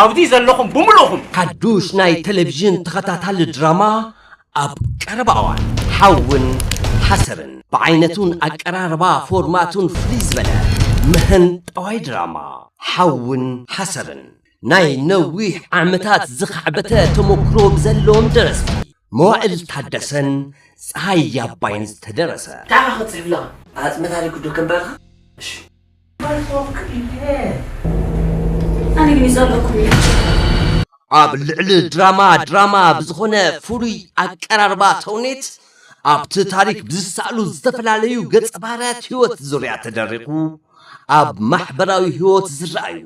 ኣብዚ ዘለኹም ብምሉእኹም። ሓዱሽ ናይ ተለቪዥን ተኸታታሊ ድራማ ኣብ ቀረባ እዋን። ሓውን ሓሰርን ብዓይነቱን ኣቀራርባ ፎርማቱን ፍልይ ዝበለ መሀንጠዋይ ድራማ ሓውን ሓሰርን ናይ ነዊሕ ዓመታት ዝኻዕበተ ተሞክሮ ብዘለዎም ደረስቲ መዋእል ታደሰን ፀሃይ ኣባይን ዝተደረሰ። እንታይ ኢኻ ክትፅሕፍላ? ኣፅመታሪክ ዶ ከንብበልካ? እሺ። ኣብ ልዕሊ ድራማ ድራማ ብዝኾነ ፍሉይ ኣቀራርባ ተውኔት ኣብቲ ታሪክ ብዝሰኣሉ ዝተፈላለዩ ገፀ ባህርያት ህይወት ዙርያ ተደሪኹ ኣብ ማሕበራዊ ህይወት ዝረኣዩ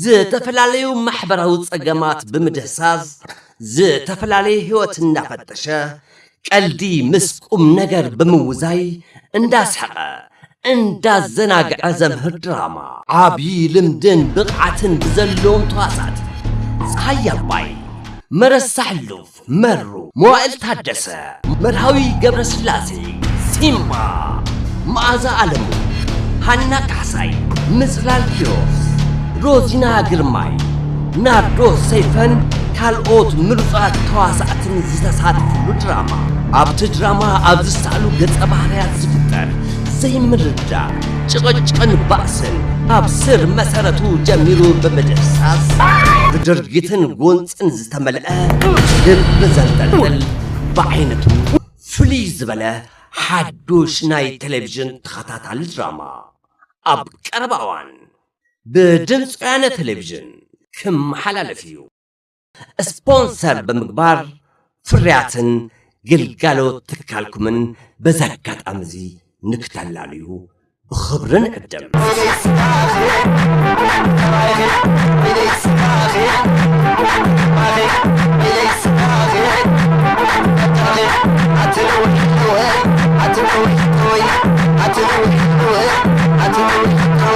ዝተፈላለዩ ማሕበራዊ ፀገማት ብምድህሳስ ዝተፈላለየ ህይወት እናፈተሸ ቀልዲ ምስ ቁምነገር ብምውዛይ እንዳስሐቐ እንዳዘናግዐ ዘምህር ድራማ። ዓብዪ ልምድን ብቕዓትን ብዘለዎም ተዋሳእቲ፣ ፀሃየ ኣባይ፣ መረሳ ሕሉፍ፣ መሩ፣ መዋእል ታደሰ፣ መርሃዊ ገብረስላሴ፣ ሲምባ፣ መኣዛ ኣለሙ፣ ሃና ካሕሳይ፣ ምፅላል ኪሮስ፣ ሮዚና ግርማይ፣ ናርዶ ሰይፈን ካልኦት ምሩፃት ተዋሳእትን ዝተሳተፍሉ ድራማ ኣብቲ ድራማ ኣብ ዝሰኣሉ ገፀ ባህርያት ዝፍጠር ዘይምርዳእ ጭቕጭቕን ባእስን ኣብ ስር መሰረቱ ጀሚሩ ብምድህሳስ ብድርጊትን ጎንፅን ዝተመልአ ልቢ ዘንጠልጥል ብዓይነቱ ፍልይ ዝበለ ሓዱሽ ናይ ቴሌቭዥን ተኸታታሊ ድራማ ኣብ ቀረባ እዋን ብድምፂ ወያነ ቴሌቪዥን ክመሓላለፍ እዩ። ስፖንሰር ብምግባር ፍርያትን ግልጋሎት ትካልኩምን በዚ ኣጋጣሚ እዚ ንክተላልዩ ብኽብሪ ንዕድም።